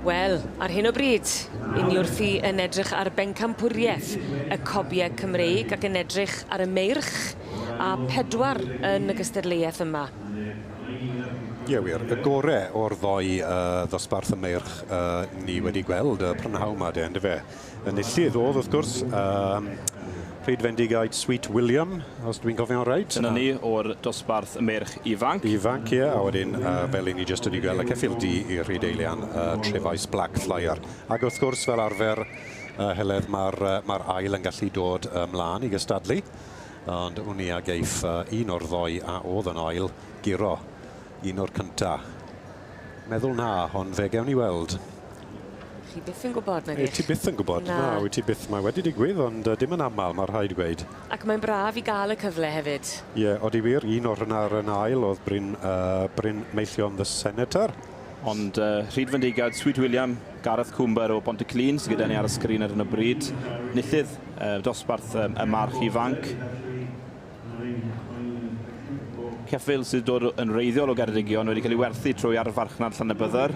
Wel, ar hyn o bryd, yn ni wrthi yn edrych ar bencampwriaeth y cobiau Cymreig ac yn edrych ar y meirch a pedwar yn y gystadleuaeth yma. Ie, wir. Y gore o'r ddoi uh, ddosbarth y meirch uh, ni wedi gweld y prynhawn ma de, yndyfe? Enillydd oedd, wrth gwrs, um, Pryd Fendigaid Sweet William, os dwi'n cofio'n rhaid. Dyna ni o'r dosbarth merch ifanc. Ifanc, ie, a wedyn, uh, fel i ni jyst wedi gweld y ceffil di i Rhyd Eilian, uh, Trefais Black Flyer. Ac wrth gwrs, fel arfer, uh, Heledd, mae'r uh, ma ail yn gallu dod ymlaen i gystadlu ond wn i a geiff uh, un o'r ddoi a oedd yn ail giro un o'r cynta. Meddwl na, ond fe gewn ni weld. Chi byth yn gwybod, nag ych? Ti byth yn gwybod, na, na wyt ti byth. Mae wedi digwydd, ond uh, dim yn aml, mae rhaid gweud. Ac mae'n braf i gael y cyfle hefyd. Ie, yeah, oeddi wir, un o'r hynna ar yn ail oedd Bryn, uh, Bryn Meillion, the Senator. Ond uh, Rhyd Fendigad, Sweet William, Gareth Cwmber o Bont y Clun sydd gyda ni ar y sgrin ar hyn o bryd. Nithydd, uh, dosbarth um, y march ifanc. Ceffyl sydd dod yn reiddiol o Geredigion wedi cael ei werthu trwy arfarchnad Llanybydder.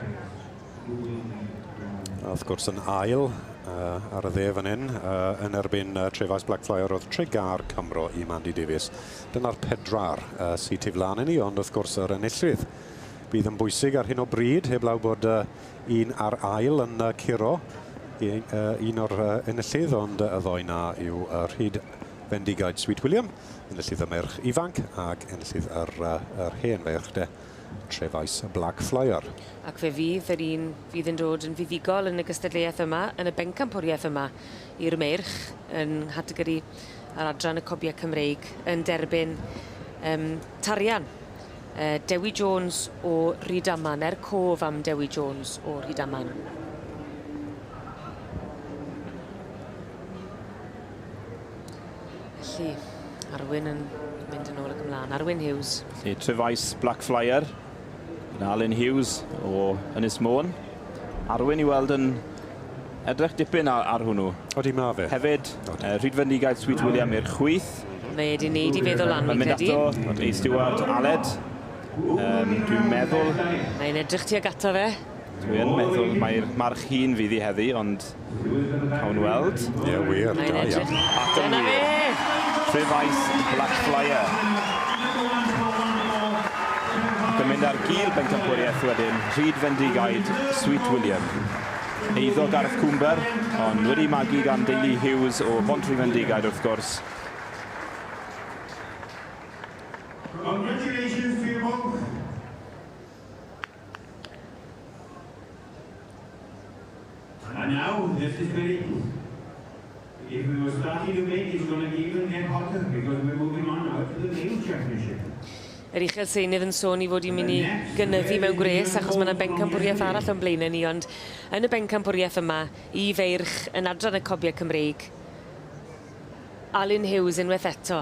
A wrth gwrs yn ail uh, ar y dde fan hyn uh, yn erbyn uh, Trefais Black Flyer oedd Tregar Cymro i Mandy Davies. Dyna'r pedwar uh, sy'n tu flaen i ni, ond wrth gwrs yr enillydd bydd yn bwysig ar hyn o bryd, heblaw bod uh, un ar ail yn uh, curo i, uh, un o'r uh, enillydd, ond uh, y ddoi na yw uh, rhyd fendigaid Sweet William, enillydd y merch ifanc ac enillydd yr, uh, yr hen ferch de. Trefais y Black Flyer. Ac fe fydd yr un fydd yn dod yn fuddugol yn y gystadleuaeth yma, yn y bencampwriaeth yma i'r Meirch, yn nghategori ar adran y Cobiau Cymreig, yn derbyn um, tarian. Uh, Dewi Jones o Rydaman, er cof am Dewi Jones o Rydaman. Felly, Arwyn yn mynd yn ôl ac ymlaen. Arwyn Hughes. Felly, Trefais Black Flyer. Yn Alun Hughes o Ynys Môn. Arwyn i weld yn edrych dipyn ar, ar hwnnw. Odi, mae fe. Hefyd, uh, rhydfendigaeth Sweet William i'r chwyth. Mae wedi wneud i feddwl am fi'n credu. Mae'n mynd ato ei stiward Aled. Um, dwi'n meddwl... Mae'n edrych ti ag ato fe. Dwi yn meddwl mai'r march hŷn fydd hi heddi, ond cawn ni weld. Ie, wir, da iawn. Ac yn wir. Dyna fe! Fe ddaeth Blackflyer. Ac yn mynd ar gul bencampwriaeth wedyn, Rhyd Fendigaid, Sweet William. Eiddo Garth Cwmber, ond wedi magu gan deulu Hughes o Bontrhyfendigaid wrth gwrs. Congratulations to you both. Mae'n iawn, Justice Perilous. If we were starting to make it's gonna get even get hotter because we're moving on now to the Games Championship. Yr Uchel Seinydd yn sôn ei fod hi'n mynd i gynyddu mewn gwres achos mae yna bencampwriaeth arall o'n blaenau ni ond yn y bencampwriaeth yma i feirch yn adran y cobiau Cymreig Alun Hughes unwaith eto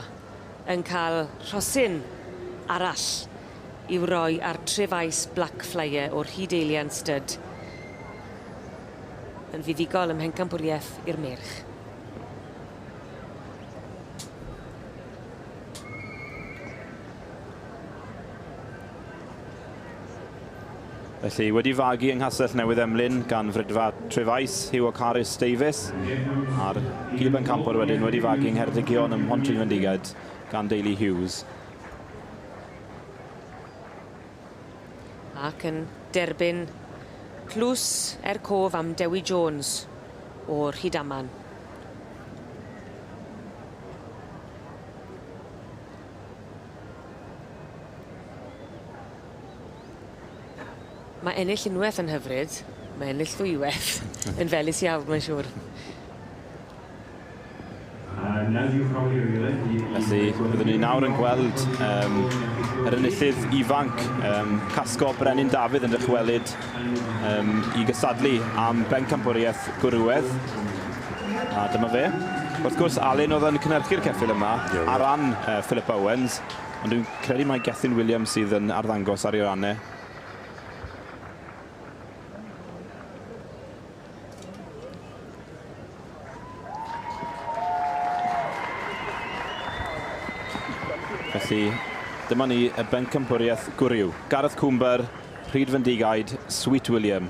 yn cael rhosyn arall i'w roi ar Tref Ice Black Flyer o'r Hyd Eilian Stud yn fuddugol ym mhencampwriaeth i'r merch. Felly, wedi fagu yng Nghastell Newydd Emlyn gan Frydfa Trefaes, Hugh a Carys Davies, a'r Gib yn Campor wedyn wedi fagu yng Ngheredigion ym Mhontryn Fendigaid gan deulu Hughes. Ac yn derbyn tlws er cof am Dewi Jones o Rhydaman. Mae ennill unwaith yn hyfryd, mae ennill ddwywaith yn felys iawn, mae'n siŵr. Felly, byddwn ni nawr yn gweld um, yr enillydd ifanc, um, Casgo Brenin Dafydd yn dychwelyd um, i gysadlu am bencampwriaeth gwrywedd. A dyma fe. Wrth gwrs, Alun oedd yn cynhyrchu'r ceffyl yma ar ran uh, Philip Owens, ond dwi'n credu mae Gethin Williams sydd yn arddangos ar ei ranne. Felly, dyma ni y bencampwriaeth gwryw. Gareth Cwmber, Rhyd Fendigaid, Sweet William.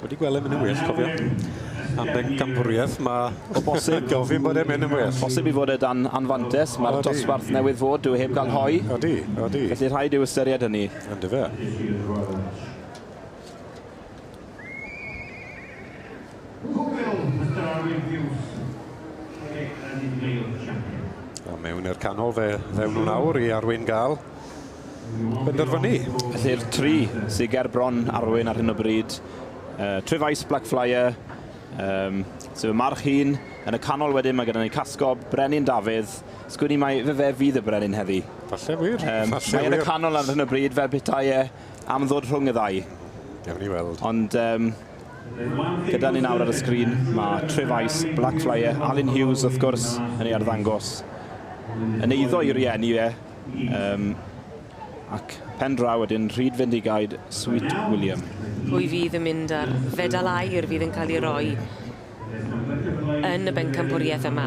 Wedi gweld e'n mynd yn well, cofio. Am bencampwriaeth, mae o bosib yn gofyn bod e'n mynd yn well. Bosib i fod e dan anfantes, mae'r dosbarth newydd fod dyw e heb gael hoe. Odi, odi. Felly rhaid i'w ystyried hynny. Yndyfe. A mewn i'r canol fe ddewn nhw nawr i Arwyn Gal. benderfynu. Felly'r tri sy ger bron Arwyn ar hyn o bryd, uh, True Vice, Blackflyer, um, sef y march hun. Yn y canol wedyn mae gyda ni Casgob, Brenin Dafydd. Sgwn i mai fe fe fydd y brenin heddi. Falle wir. Um, Falle mae yn y canol ar hyn o bryd fel petai e am ddod rhwng y ddau. Gewn ni weld. Ond um, gyda ni nawr ar y sgrin mae True Vice, Blackflyer, Alun Hughes wrth gwrs yn ei arddangos yn eiddo i rieni e, Yym, ac pen draw wedyn, Rhydfendigaid Sweet William. Pwy fydd yn mynd â'r fedal aur fydd yn cael ei roi yn y bencampwriaeth yma,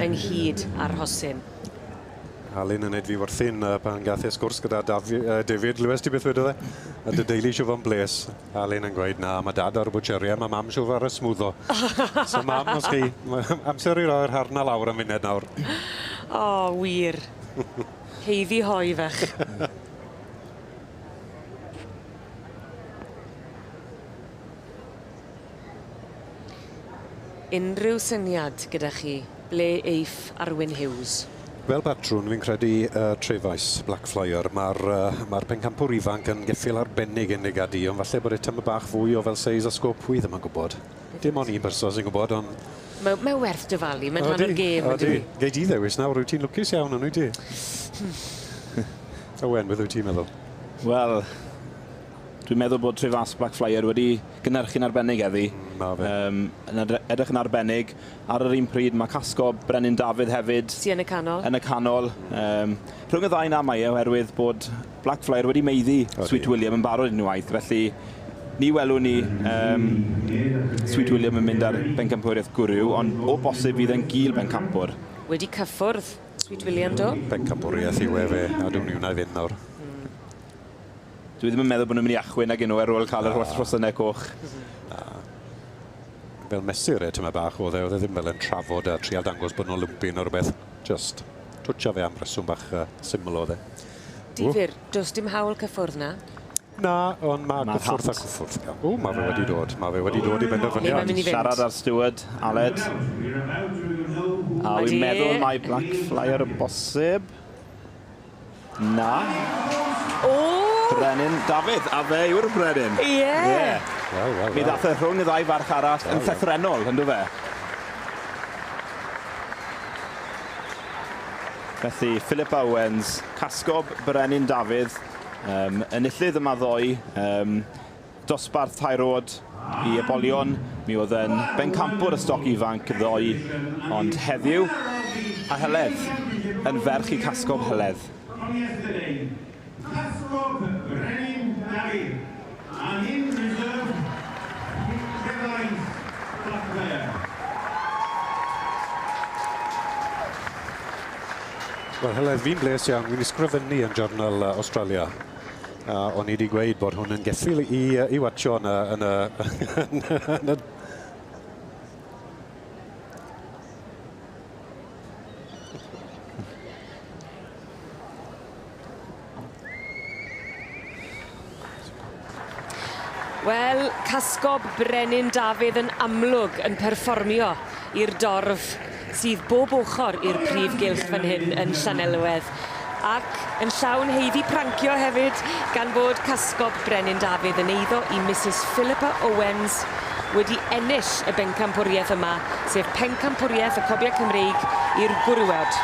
ynghyd â'r rhosyn? Alun yn edfu wrthyn pan gath e sgwrs gyda David Lewis, ti byth wedodd e, a dy deulu eisiau fod yn blês. Alun yn gweud na ma dad ar y bwtsheri a ma mam siwr ar y smwddo. So mam os chi amser i roi'r harna lawr am funed nawr. O wir. Haeddu hoe fach. Unrhyw syniad gyda chi ble eiff Arwyn Hughes? Fel patrwn, fi'n credu uh, Trefais, Black Flyer. Mae'r uh, ma pencampwr ifanc yn geffyl arbennig yn ei gad i, ond falle bod e tyma bach fwy o fel seis a sgop, wi ddim yn gwybod. Dim ond un person sy'n gwybod, ond... Mae, mae werth dyfalu, mae'n rhan o'r gêm, ydy. Gei di ddewis nawr, wyt ti'n lwcus iawn yn wyt ti? Hmm. Owen, beth wyt ti'n meddwl? Wel, Dwi'n meddwl bod Trefast Black Flyer wedi gynhyrchu'n arbennig heddi. Mm, ma fe. Um, yn edrych yn arbennig. Ar yr un pryd, mae Casco Brenin Dafydd hefyd. Sy yn y canol. Yn y canol. Mm. Um, rhwng y ddau na mae e, oherwydd bod Black Flyer wedi meiddi okay. Sweet William yn barod unwaith, felly ni welwn ni um, Sweet William yn mynd ar bencampwriaeth gwrw, ond o bosib fydd e'n gil bencampwr. Wedi cyffwrdd Sweet William do? Bencampwriaeth yw e fe, a dwi'n ni wna i fynd nawr. Dw i ddim yn meddwl bod nhw'n mynd i achwyn nag 'yn nhw ar ôl cael yr holl rhosynnau coch. Na. Fel mesur e, tymed bach oedd e, oedd e ddim fel yn trafod a trial dangos bod nhw'n lwmpyn neu rhywbeth. Jyst twtsio fe am reswm bach uh, syml oedd e. Difyr, does dim hawl cyffwrdd na? Na, ond mae ma cyffwrdd a cyffwrdd. O, mae fe wedi dod. Mae fe wedi dod i benderfyniad. Siarad ar steward, Aled. A wy'n meddwl mae Black Flyer y bosib. Na. O! Brenin Dafydd, a fe yw'r brenin. Ie. Ie. Waw, waw, Mi ddath y rhwng y ddau farch arall yn llythrennol, ynddo fe? Felly, Philip Owens, casgob Brenin Dafydd, um, enillydd yma ddoe, um, Dosbarth tair oed i ybolion, mi oedd yn bencampwr y stoc ifanc ddoe, ond heddiw, a Heledd, yn ferch i Casgob Heledd. From yesterday, Casgob Brenin Dafydd, and in reserve, Rhys-Ddefaid Blackburn. Wel Heledd, fi'n blês iawn, wi'n ysgrifennu yn Journal Australia. A o'n i 'di gweud bod hwn yn geffyl i yy i watsio yn y yn y yn y... Wel, casgob Brenin Dafydd yn amlwg yn perfformio i'r dorf sydd bob ochr i'r prif gylch fan hyn yn Llanelwedd ac yn llawn heiddi prancio hefyd gan fod casgob Brenin Dafydd yn eiddo i Misus Philippa Owens wedi ennill y bencampwriaeth yma, sef pencampwriaeth y Cobiau Cymreig i'r Gwrywod.